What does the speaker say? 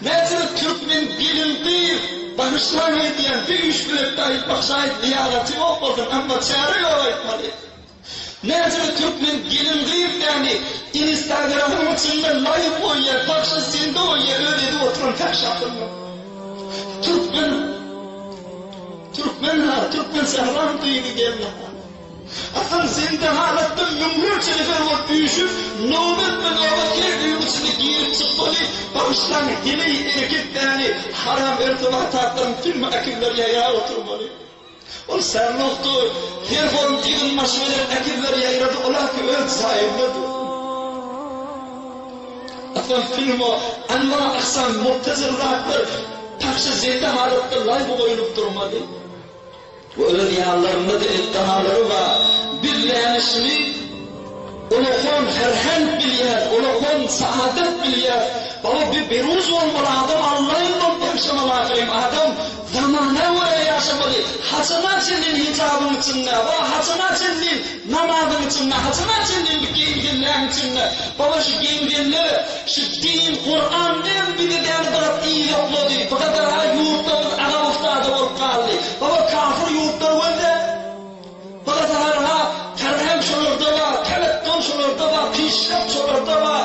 Mertebe Türkmen gelin gyz bagyşlaň aýdýan bir üç biletde aýtmak şaýt zyýaraty ýok bolsun amma çäre ýok aýtmaly. Mertebe Türkmen gelin gyz däni inistagramiň içinde laýk goýýar bagşa sende bolýar öz edip oturan täş ýakymly. Türkmen Türkmen ha Türkmen sähram gyzy gelin ha. Atam sen dehalatdan müňlerçe nefer bolup üýşüp, nobatma-nobat her öýüň içine girip çykmaly, bagyşlaň, heleý erkek däli, haram örfe wataklaryň tümmi äkizler ýaýrap oturmaly. Ol särlukdy, her holum ýygyn başy bilen äkizler ýaýrady, olarky öz jaýynda dursun. Atam filmo, anwar aksam, mubtezil zatlar pahşa-zende halatda laý goýlup durmaly. Olar ýanlarynda diňe dalary bar. Bilýäni şuny, Ulofon Ferhent bilýär, Ulofon Saadet bilýär. Baba, bir beruz bolmaly, adam allaýyn bolup ýaşamaly ahyryn. Adam zamana görä ýaşamaly. Haçana çenli hijabyň içinde, wah, haçana çenli? Namazyň içinde haçan açan indi geýingenleň içinde baba şu geýingenler şu din Kuran bilen bizi däli biraz yzoklady bu kadar ha ýurtlarymyz agam ustada bolup galdy baba kafir ýurtlar gözle bilasahar ha karz hem şolarda bar teletgol şolarda bar pişreft şolarda bar.